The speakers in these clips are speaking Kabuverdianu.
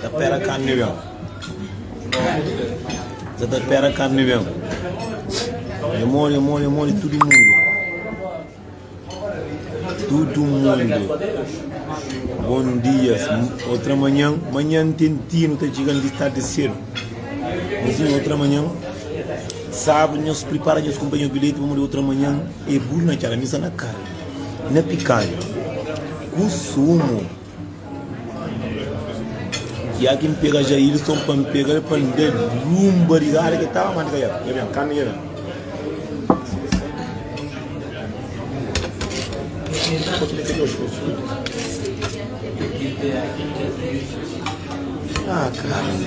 Ta pera karni meu. Sa ta pera karni meu. É modi, é modi, é modi tudo mundo. Tudo mundo. Bom dias. Outra manhã, manhã tentino tá chegando de tarde cedo. Mas sim, outra manhã, sábado, nós prepara nós companheiros bilhete para outra manhã. É burro na cara, missa na cara. Na picada. Com sumo. Ya ki N pega Jairson pa N pega-l pa N da-l un barigada ki el tava manda ka el ben kaminha ben. Ah karni,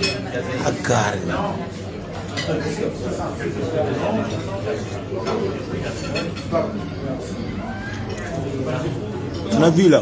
ah karni. Na vila.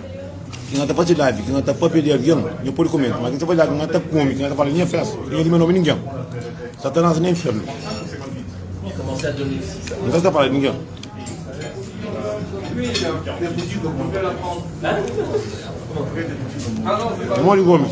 ki na ta faze live ki na ta papia di algen nha pode komenta ma ki na ta faze live na ta kome ki na ta fala nha festa ki nha di me nome ningen satanas na infernu na ta sta fala di ningen modi gomes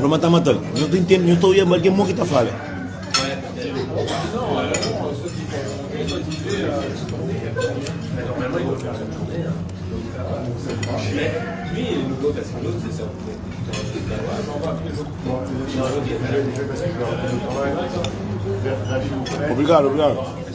Roma ta mata-l. Nhos ta intende? Nhos ta oja bal ki é mo ki ta fala? Obrigadu, obrigadu.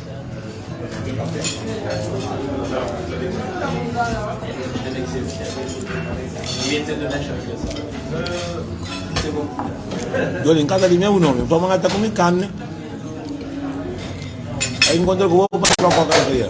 Yo li nkasa di meu nomi, pa manga ta kumi kami, ai nkontra ku bo pa troka kal ki é.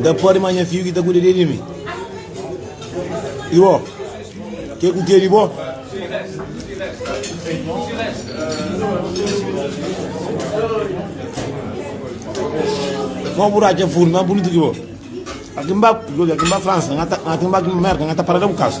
N ta pode ma nha fidju ki ta kuda de mi. I bo? Ke ku ke di bo? Kau bu ratxa furmi ma bunitu ki bo? Aki n ba, aki n ba Fransa, n ta, aki n ba Merka, n ta parada bu kasu.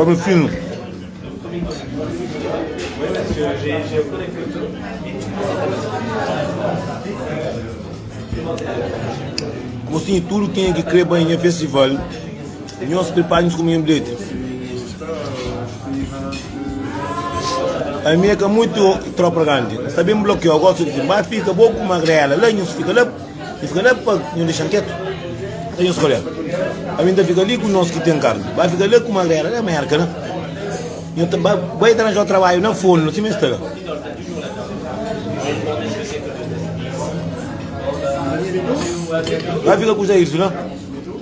Omi finu. Mosinhu tudu kenha ki kre bai nha festival. Nhos pripara nhos kuminhu bilheti. Ami e ka muitu tropa grandi. N sta bin blokiau. Gosi su di, N ba fika bo ku magrela la. Nhos fika la, nhos fika la pa nhos dexa-m ketu. Nta nhos kolha. Ami N ta fika li ku nos ki ten karni. Ba fika la ku magrela la, merka la. Nhos ta ba bai ta ranjau trabaiu na fonu la, sima e sta la. Ba fika ku Jairsu la.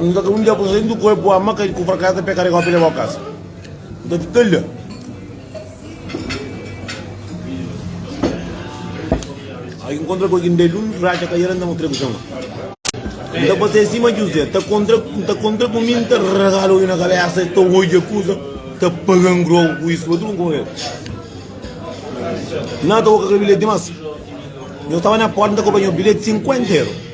Nunka ka un dia ku senti ku el pua maka ku frakasa ta peka regau pa lebau kasa. Nta ki ta la. Ai ki nkontra ku algin da el un fratxa ka yera nta mo tregu xanga. Nta pasea sima Juzé ta kontra nta kontra ku mi nta ragala oju na kabesa ta oja kusa ta paga ngrogu ku isu otu nko el. Na ta oka kel bilheti dimas. Nhos tava na porta nta kopa nhos bilheti 50 euro.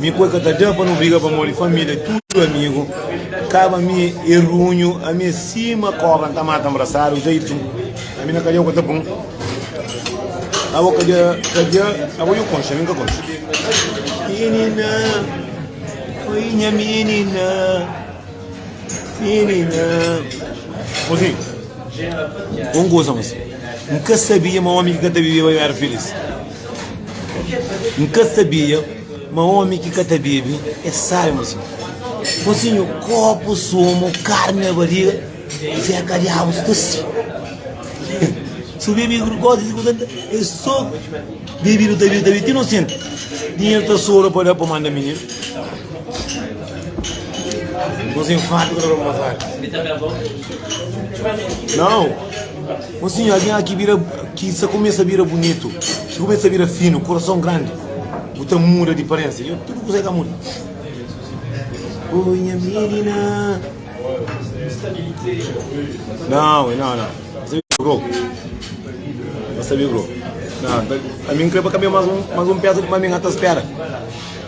Mi kua ka ta da pa nu briga pamodi família tudu amigu kaba mi e runhu ami é sima kobra n ta mata nbrasadu dja i txu ami na kadia kua ta pun abo kadia kadia abo dja konxe ami n ka konxe minina oi nha minina minina osi un kusa mas n ka sabia ma omi ki ka ta bibeba mi éra filís. N ka sabia ma omi ki ka ta bebe é sábi ma si. Mosinhu, kopu sumu, karni na bariga, seka diabus ta si. Si bu bebe gosi di kuzanta, é so bebidu ta bebe, ta bebe ti no senti dinheru ta sobra pa da pa manda mininu. Mosinhu, fábrica ta roba masada. Nau! Ô sinha, algen la ki bira, ki sa kumesa bira bunitu, ki kumesa bira finu, kurason grandi, bu ta muda di parensa. Yo, tudu kusa e ka muda. Ô nha minina. Não, e não, não. Você viu o grupo? Você viu o grupo? Não, tá- a mim creio que caminha mais um, mais um peça de maminha até espera.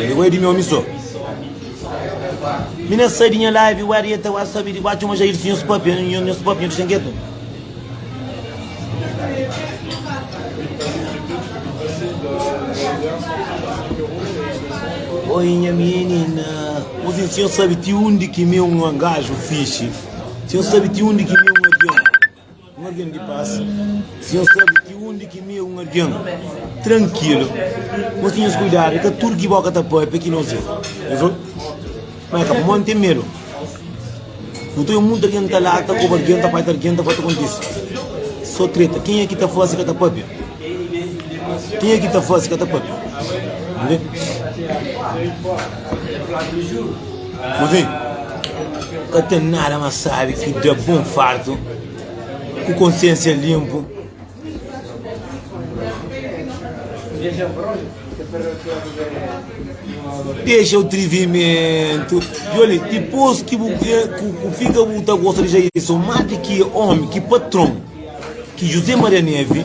Ele goia di mi omi so. Mi na sai di nha live, where yet eu acho sabe de watch uma jair senhor spap, eu não não spap, eu deixa quieto. Oi, minha menina, mas o senhor sabe de onde que meu um gajo fixe? O senhor sabe de onde que meu Un argen di pas. Si nhos sabe ti undi ki mi é un argen trankilu, nhos tinha nhos kuidadu. É ka tudu ki bo ka ta pâpia ki nhos é. Nhos obi? Má é ka pamodi N ten medu. Nton é monti argen ta lata, koba argen, ta pâpia argen, ta fla, Ta kontise sô treta. Kenha ki ta fla si ka ta pâpia? Kenha ki ta fla si ka ta pâpia? N ben. Move, ka ten nada más sábi ki da bo un fartu ku konsiénsia linpu. Dexa atrivimentu. Djoli, dipôs ki bu ben, ku, ku fika bu ta gosta di Jailson más di ki omi, ki patron, ki José Maria Neve,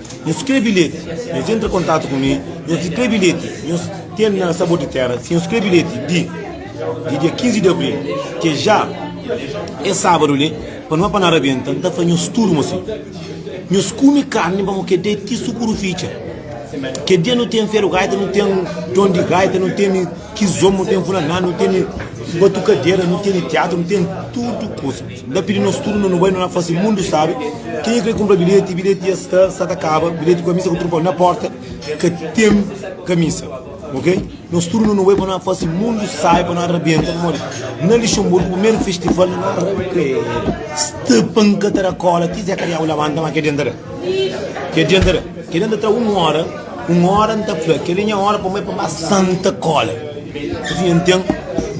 Nhos krê bilheti, nhos entra kontatu ku mi. Nhos krê bilheti, nhos ten na Sabor di Téra. Si nhos krê bilheti di di dia 15 di abril, ki é já es sábadu li, pa nu apa na rabenta, N ta fla nhos tudu ma si nhos kume karni pa bu kedê ti sukurufitxa. Kel dia nu ten feru gaita, nu ten don di gaita, nu ten kizomba, nu ten funaná, nu ten batukadera, nu ten tiatru, nu ten tudu kuza. N ta pidi nos tudu, nu bai, nu na fase mundu sabe. Kenha ki krê kunpra bilheti, bilheti dja sta, sta ta kaba. Bilheti ku kamisa ku trunfon na porta, ka ten kamisa. Ok, nos tudu nu bai pa na fase mundu sabe, pa na rabenta. Pamodi na Lixemburgu primeru festival na rabenta el. Stepan ka ta da kola ti Zé Kariau labanta, ma kel dia N ta da. Kel dia N ta da. Kel dia N ta da un ora. Un ora n ta fla, kel-li é nha ora pamodi é pa ba santa kola Asín nha ten,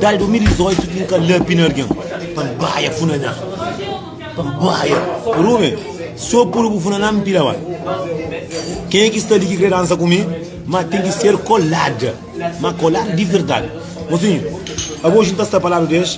dal 2018 ki n ka lapi na algen Pa n baia funaná, pa n baia Rume, so puru bu funaná n pila ba Ken é ki sta li ki krê dansa ku mi Má ten ki ser kolada, má kolada di verdadi Mosinhu, abo oji n ta sta pa ladu di es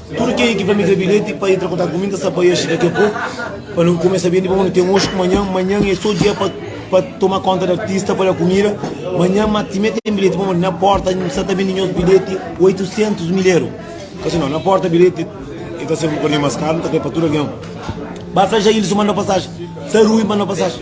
Tudu kel ki ba mi da bilheti pa entra kontatu ku mi, N ta sta pa Yeshe daki a poku, pa nu kumesa bende pa bu. Nu ten oji ku manhan, manhan é so dia pa toma konta di artista, pa da kumida. Manhan ma timé ten bilheti pa modi na porta, N sta ta bende nhos bilheti 800 mil eru. Ka si no, na porta bilheti e ta ser un bokadinhu mas karu, N ta krê pa tudu algen ba. Sa Jailson manda pasajen, sa Rui manda pasajen.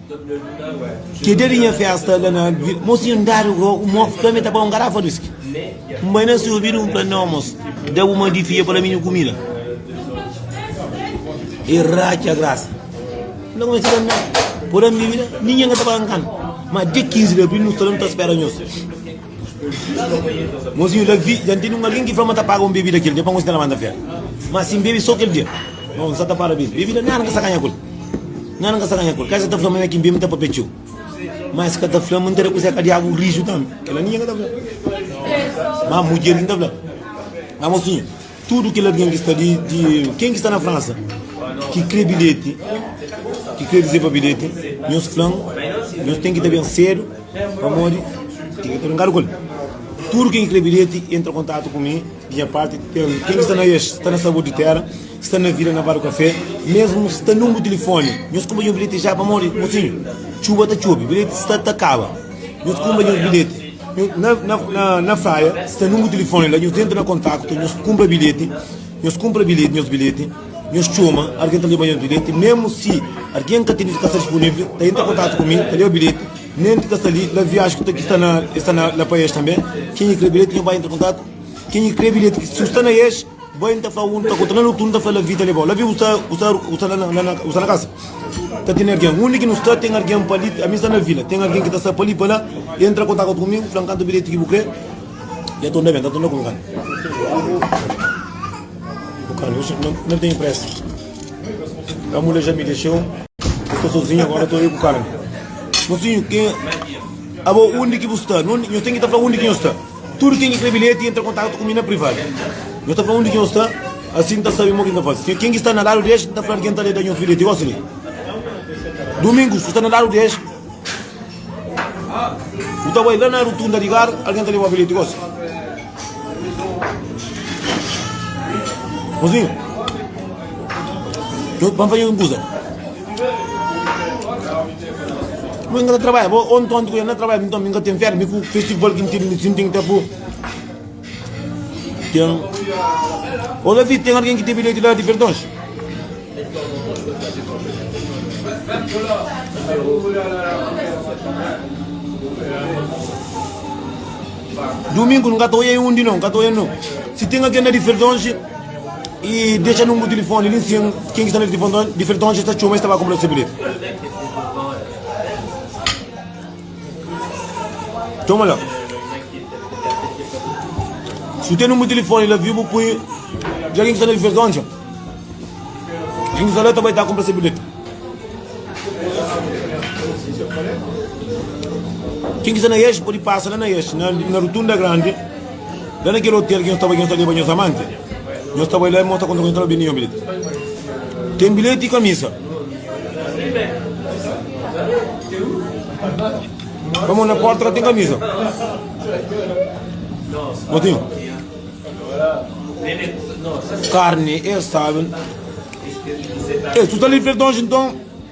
Ke dia di nha festa la na vila. Mos tinha andadu ku un mof ka mi ta bai un garafa di whisky. N bai na si obidu, N fla, Nau, mos, da bu ma di fia pa la mi nu kumida. E ratxa grasa. N ta kumesa kanta. Pur ami bibida, ninguin ka ta bai n kanta. Ma dia 15 di abril nu sta la nu ta spera nhos. Mozinhu da vi, dja N tene un algen ki fla ma ta paga un bebida kel dia pa nos inda la manda fera. Má si N bebe sô kel dia, nos sa ta para bebe. Bebida nada N ka sa ganha ku el. Nada N ka sa ganha ku el. Ka es ka ta fla ma mi é ki N bebe, N ta papia txeu. Má es ka ta fla ma N ta da kuzé ka di agu riju tanbê. Kel-la ninhen ka ta fla. Má mudjer ki N ta fla, Má mozinhu, Tudu kel algen ki sta li, di ken ki sta na Fransa, ki krê bilheti, ki krê rezerva bilheti, nhos fla-m, nhos ten ki ta ben sédu, pamodi ten ki ta brinkadu ku el. Tudu ken ki krê bilheti, entra kontatu ku mi, di nha párti, ten ken ki sta na Ex, sta na Sabor di Téra, sta na Vila, na Bar du Kafé, mésmu sta nunbru tilifóni, nhos kunpra nha bilheti ja, pamodi, mosinhu, txuba ta txobe, bilheti sta ta kaba. Nhos kunpra nhos bilheti na fraia, sta nunbru tilifoni la, nhos entra na kontaktu, nhos kunpra bilheti, nhos kunpra bilheti nhos bilheti, nhos txoma argen ta leba nhos bilheti, memu si argen ka tene, si ka sta disponivli, ta entra kontaktu ku mi, ta leba bilheti, nen ki ta sta li la viaji ku ta ki sta na, sta na la pa es tanbe, kenha kre bilheti nhos bai entra kontaktu, kenha kre bilheti su sta na es. Boi nta fla un ta konta na lutu un ta fla la vida lebau la vi usa usa usa la na na usa na kasa ta tene argen undi ki nu sta ten argen pa li ami sta na vila ten argen ki ta sta pa li pa la i entra kontakat ku mi ku flan kanta bilheti ki bu kre i atonda ben ta atonda ku nkan bu kan oxi na na ten pressa la mule ja mi dexeu bu sta sozinho agora to eu ku kara mosinho ke abo undi ki bu sta no no ten ki ta fla undi ki no sta Tudu ken ki krê bilheti entra kontatu ku mi na privadu. Nhos ta fla undi ki nhos sta, asi N ta sabe mo ki N ta faze. Ken ki sta na ladu di es, N ta fla-l ki N ta lé da nhos bilheti gosi li. Dumingu, si bu sta na ladu di es, bu ta bai la na rutunda di gar, algen ta leba bilheti gosi. Mozinhu, nhos ban faze un kuza. Mui ka ta trabadja bo, ô nton ti ku el na trabadja, nton mi ka ten férias, mi ku festival ki mi ten mi sinti ta bu ten ô Davi ten algin ki ten bilheti la di perdons? Dumingu nka ta oia undi no, nka ta oia no, si ten algin la di perdons. E dexa nunbru di tilifoni li nsin ken ki sta na difeton dja ta txoma es ta ba kunpra sebilheti txoma la si bu ten nunbru di tilifoni la viu bu pui dja ken ki sta na difeton dja ken ki sta la ta bai ta kunpra sebilheti ken ki sta na eixo podi pasa la na eixo na rutunda grandi La na kel otel ki nhos staba, ki nhos ta leba nhos amanti, nhos sta bai la, Irmon sta konta ku nhos, Toma, ben li nha bilheti. Ten bilheti i kamisa. Pamodi na porta ka ten kamisa. Motinho. Carne, eles sabem. Ei, tu tá ali, Fredonge, então.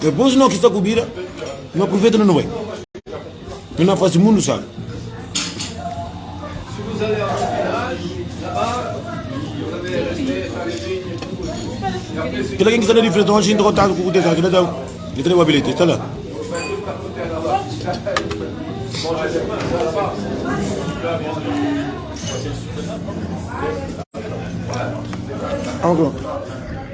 Depois no ki sta ku bida, no profeta no bai. No na fasi mundu sabi. Kila ken ki sta na diferença hoje entra contato ku kutesa kila dau. Li tra wa bilhete, está lá. Algo.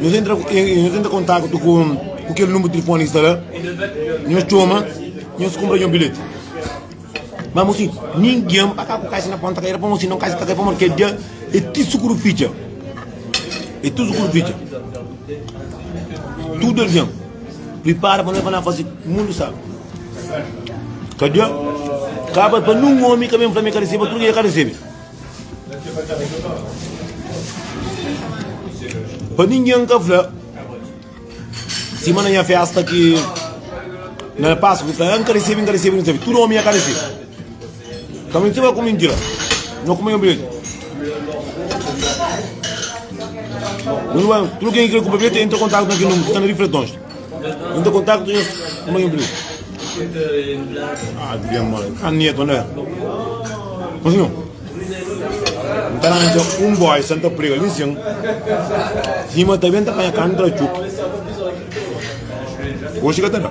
Nhos entra, nhos entra kontaktu ku, ku kel número telefoni ki sta la, nhos txoma, nhos kunpra nhos bilheti. Mas mosi, ninguém pa cá por caixa na ponta caída, para mosi não caixa para porque dia é tudo seguro ficha. É tudo seguro ficha. Tudo alguém prepara para nós para fazer mundo sabe. Cadê? Acaba para num homem que vem para mim que recebe, tudo que recebe. Pa ninguém ka fla Sima na nha festa ki Na passo que fla Nka recebe, nka recebe, nka recebe Tudo homem ka recebe Ka mentira ku mentira Não come eu bilhete Tudo quem quer comprar bilhete Entra contato na ki número Tá na refletões N ta kontakta nhos kuma nhos bini. N ta randja un boi sa N ta prega li sin, sima ta ben ta panha karni tra txuki. Oxi ka ta da.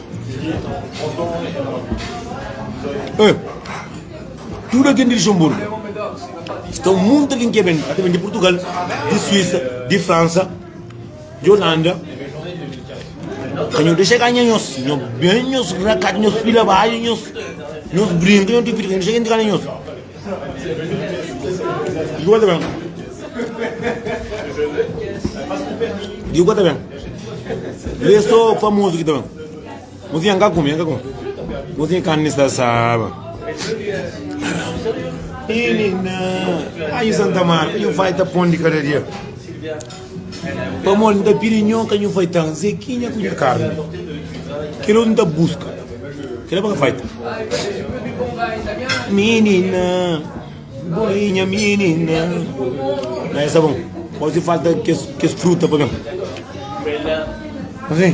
Ê! Tudu algen di Luxenburgu sta un monti algen ki ê ben, ata ben di Purtugal, di Suisa, di Fransa, di Olanda. Ka nho dexa ganha nhos, nho ben, nhos rakadu, nhos fila baxu, nhos brinka, nhos divirti, ka nho dexa algen ganha nhos. Diogo ta ben. Diogo ta ben. Lê só famoso que ta ben. Mozinha, nunca come, nunca come. Mozinha, carne está sábado. Menina, aí Santa Marta, e o vai tá pondo de cada dia. Pamodi n ta pidi nho ka nhu faitan, Zekinha ku nhu karni. Kel otu n ta buska, kel-la pa ka faita. Minina, bo i nha minina. Daí sa bom, gosi falta kes, kes fruta pa ben. Assim.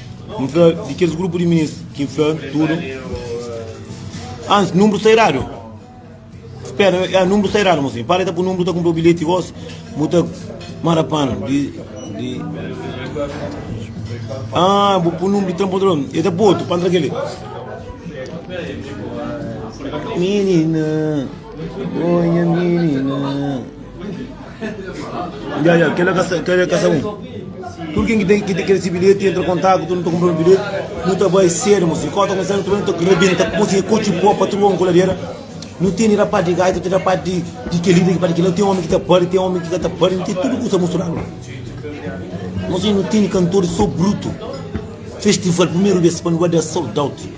N fla di kes grupu di ministru ki N fla tudu antis, nunbru sta eradu. Spera, ya, nunbru sta eradu, mosinhu. Para di ta pui nunbru, ta kunpra bilheti gosi, bu ta mara panu di. di... Ah, bu pui nunbru di tranportador. E ta pui otu pa ntra keli. Menina, oh, nha menina. Ya, ya, kel-la ka sa, kel-la ka sa bon. Tudu ken ki ta, ki ta kre si bilheti, entra kontaku, tudu nu ta kunpra un bilheti, nu ta bai sedu, mosi. Kau ta kumesa, nu ta bai, nu ta rebenta, poi si e kochi bo, patrua, kuladera. Nu tene da parti di gaita, ten da parti di, di kel-li, ten da parti di kel-la, ten omi ki ta pari, ten omi ki ka ta pari, nu ten tudu kusa musturadu la. Mosi, nu tene kantoris so brutu. Festival, primeru bes pa nu bai da sold out.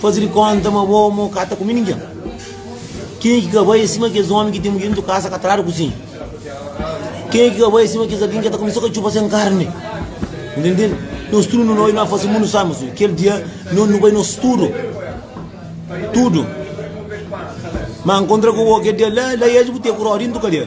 Faze di konta ma bo amor ka ta kume ningen. Kenha ki ka bai é sima kes ómi ki ten mudjer dentu kasa ka tradu kuzinha. Kenha ki ka bai é sima kes algen ki ka ta kume so katxupa sen karni. Ntendel? Nos tudu nu bai, nu na fase mundu sai ma su. Kel dia no nu bai nos tudu. Tudu. Ma nkontra ku bo kel dia la, la i aji bu te ku rodi dentu kadia.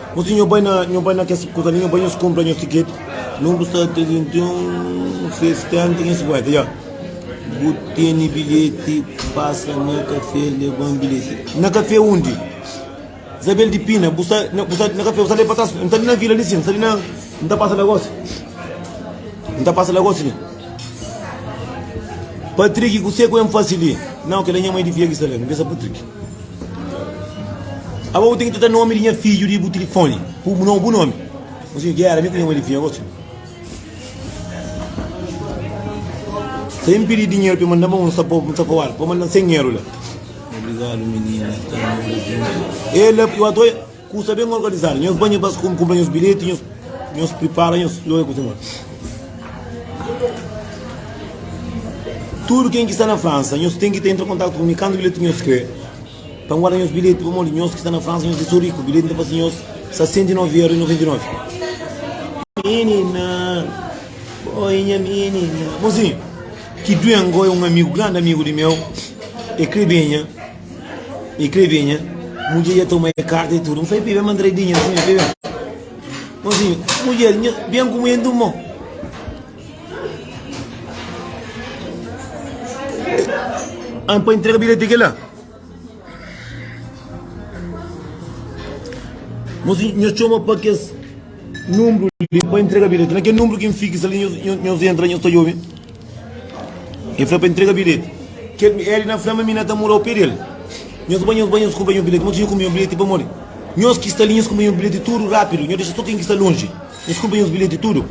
Nhu si nhu bai na nhu bai na kes kuza li nhu bai nhos kunpra nhos tiketi nhu bu sta ta di ten un festa nta nhos bai fla bu teni bilheti pasa na kafé leban bilheti na kafé undi zabel di pina bu sta na bu sta na kafé bu sta li pa tras nta li na vila li si nta li na nta pasa lagosi nta pasa lagosi li patriki kusé ku N fasi li nau kila nha mai di fia ki sta la N pensa patriki. Aba bu ten ki ta da nomi di nha fidju di bu tilifoni ku bu nobu nomi. Un sinhu gera mi ku nha madifinha gosi. Si el pidi dinheru pa manda manu, N ta fowal, pa mandan 100 eru la. Obrigadu minina, ta mora juntu. Ela, eu adora. Kusa ben organizadu, nhos ba nhos bas kunpra nhos bilheti, nhos nhos pripara nhos loja kusa modi. Tudu ken ki sta na Fransa, nhos ten ki ta entra kontatu ku mi kantu bilheti nhos krê pa nguarda nhos bilheti pamodi nhos ki sta na Fransa nhos é so riku, bilheti ta fasi nhos 69 euro y 99. Minina, oi nha minina. Mozinhu, ki Duengo é un amigu, grandi amigu di meu, e krê ben nha. E kre binha, mudjer dja toma e karta e tudu. N fla, Pibe, mandra e binha, sinha, pibe. Ô sinha, mudjer, nha, ben ku mui antum mô. An pa entrega bilhete ke la. Mas nho choma pa kes número li pa entrega bilhete. Na ke número ki n fixa li, nho, nho, nho entra, nho sta jovem. El fla-m pa el ntrega bilheti. El na fla ma mi na ta mora opé di el. Nhos bai, nhos bai, nhos kuba nhos bilheti. Modi ki nha kuba nhos bilheti pamodi nhos ki sta li, nhos kuba nhos bilheti tudu rápidu. Nhos dexa sô ken ki sta lonji. Nhos kuba nhos bilheti tudu.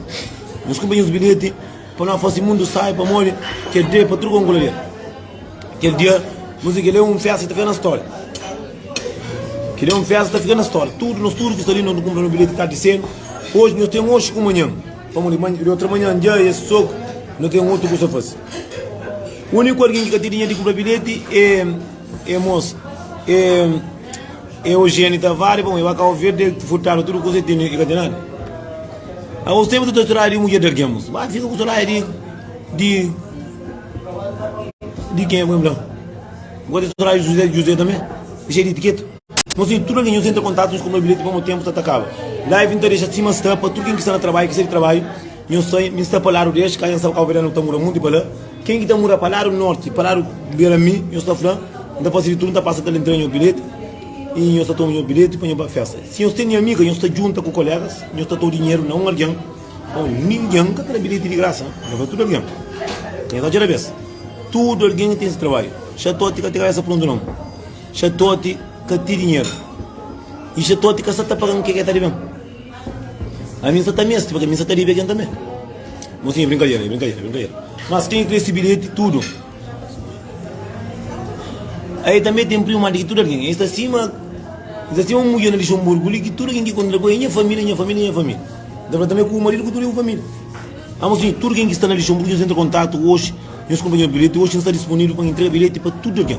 Nhos kuba nhos bilheti pa nu fase mundu sai pamodi kel dia é pa tudu kongoladier. Kel dia, nu fla kel-li é un fésta ki ta fika na stória. Kel-li é un fésta ki ta fika na stória. Tudu, nos tudu ki sta li, nos nu kunpra nos bilheti tardi sédu. Oji nhos ten oxi ku manhan. Pamo li manha, li outra manhã, dja é soco, não tem outro coisa a fazer. O único alguém que ka tinha de comprar bilhete é, é moça, é, é Eugênio Tavares, bom, eu acabo de ver, ele furtaram tudo coisa e tem, e ka tem nada. A os tempos tu estás de mulher de alguém, moço, vai fica com o celular de, de, de quem é, vamos lá. Agora tu traz José, José também, cheio de etiqueta. Nos ten tudu algen nhos entra kontatus nhos konpra bilheti pamo tenpu sta ta kaba live nta dexa sima sta pa tudu ken ki sta na trabaiu ki sai di trabaiu nhos sai mi sta pa ladu di es ka nhos saba kau verdianu ta mura munti pa la ken ki ta mura pa ladu norti pa ladu bera mi nhos ta fla nta fasi di tudu nta pasa ta lntra nhos bilheti i nhos ta toma nhos bilheti pa nhos ba festa si nhos tene amiga nhos ta djunta ku kolegas nhos ta tau dinheru na un algen o ninguen ka ta da bilheti di grasa nhos da tudu algen nhos atxa da bes tudu algen ten si trabaiu xatoti ka ta kabesa pruntu non. Xatote ka ti dinheru. I xatote ka sa ta paga-m ke ke ta debe-m. Ami N sa ta meste, pabia mi sa ta debe algen tanbe. Bon, sin, e brinkadera, e brinkadera, e brinkadera. Mas kenha krê si bilheti tudu? Ai tanbe ten primu ma di ki tudu algen. E sta sima, e sta sima un mudjer na Lixonburgu li ki tudu algen ki kontra ku el, nha familia, nha familia, nha familia. N ta fla tanbe ku bu maridu ku tudu bu familia. Amo sin, tudu ken ki sta na Lixonburgu nhos entra kontatu oxi, nhos kunpanheru bilheti, oxi N sta dispunivel pa N intrega bilheti pa tudu algen.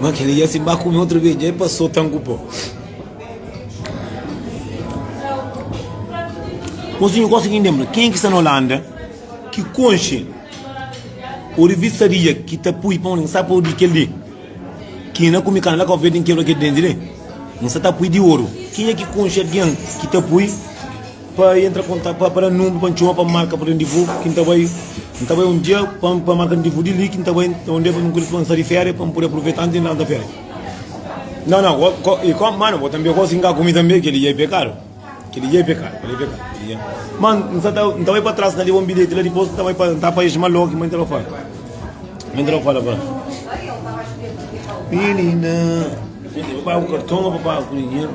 Ma kel dja si ba kume otu bes dja e pa so ten ku po Mosinhu gosi ki ndenbra ken ki sta na Olanda ki konxe o rivista di dja ki ta pui pa un sa po di kel di ki na kume karni la ka ofende n kebra kel denti li n sa ta pui di oru ken ki konxe algen ki ta pui Pa i entra konta pa pa da nunbi pa ntxoma pa marka purden di bu ki nta bai n ta bai un dia pa pa marka ndi bu di li ki nta bai nta un dia pa nunka di pa nsa di feria pa npudi apruveta antis nda nta feria nan nan go go i go mano bo tambi gosi nka ku mi tambi keli dia i pekadu keli dia i pekadu keli dia i pekadu keli dia ma nsa ta nta bai pa tras na liba un bilheti la dipos nta bai pa nta pa isma loki ma intra pa fora ma intra pa fora fora minina pa pagu karton o pa pagu ku dinheru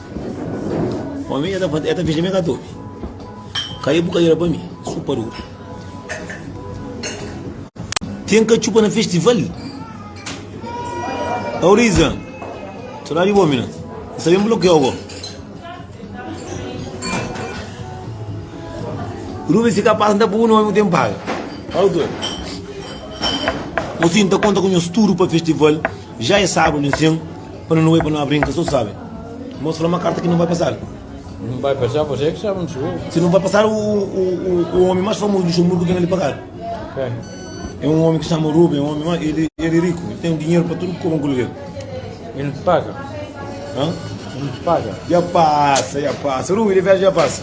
Família ta fla, el ta fitxa mi ka ta obi. Ka e bu ka ira pa mi, supa duru. Ten ka txupa na festival. Auriza, txora di bo mina. Sa bem bloqueou go. Rubi se capaz da bu nome tem paga. Autor. Assim, tá conta com o estudo para festival. Já é sábado, assim. Pa nu bai pa nu abri n ka so sabe Mos fla ma karta ki nu bai pasal N bai pasal pa se ki sabe N sou Si nu bai pasal u omi mas famozu di Xomburgu ben li pa kal E un omi ki xama Rubi E un omi ma el e riku El ten dinheru pa tudu komu ku luger El pasa El pasa Ya pasa ya pasa Rubi de viaji ya pasa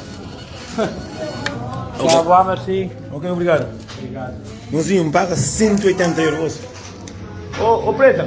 Tchau vá merci Ok obrigado Obrigado Mozinho N paga 180 euro Ô preta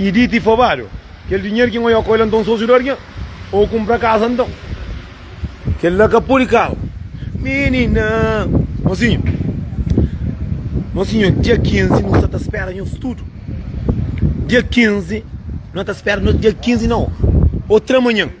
E dita e fabadu, kel dinheru ki N oja ku el anton sósiu da-l nha, N kunpra kaza anton. Kel la ka pode kaba. Minina, Mosinhu, Mosinhu, dia 15 nu sta ta spera nhos tudu. Dia 15, no ta spera nhos dia 15 na o, o tra manhan.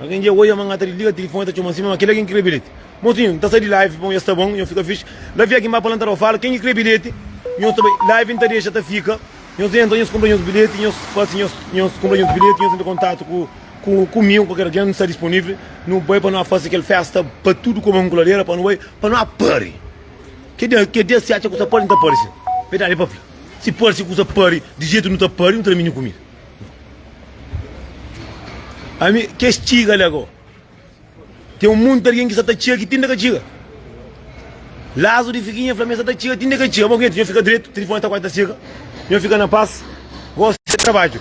Algen dja oia ma N ka ta disliga tilifoni, ta txoma sima ma kel algen ki krê bilheti. Mosinhu, N ta sai di live, bon, es ta bon, nhos fika fix. La fia ki N ba palanta la, ô fala ken ki krê bilheti, nhos ta bai. Live N ta dexa ta fika, nhos entra, nhos kunpra nhos bilheti, nhos fase nhos, nhos kunpra nhos bilheti, nhos entra kontatu ku, ku, ku mi ô kualker algen, N sta disponivli, nu bai pa nu a fase kel festa pa tudu koma un kuladera, pa nu bai, pa nu a pari. Ke dia, ke dia si atxa kusa pari, N ta pari sin. Verdadi pa fla, si pari, si kusa pari di jetu nu ta pari, nu ta da minhu kumida. Ami, kes txiga li ago. Ten un monti algen ki sa ta txiga ki ti n ta ka txiga. Lazu di Figuinha fla mi, sa ta txiga ti n ta ka txiga. Bo kenti, nho fika dretu, tilifoni ta kuazi ta sega. Nho fika na pas. Gosi se trabadju.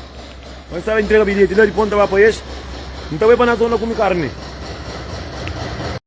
Bai staba intrega bilheti la, dipos n ta ba pa es. N ta bai pa na zona kume karni.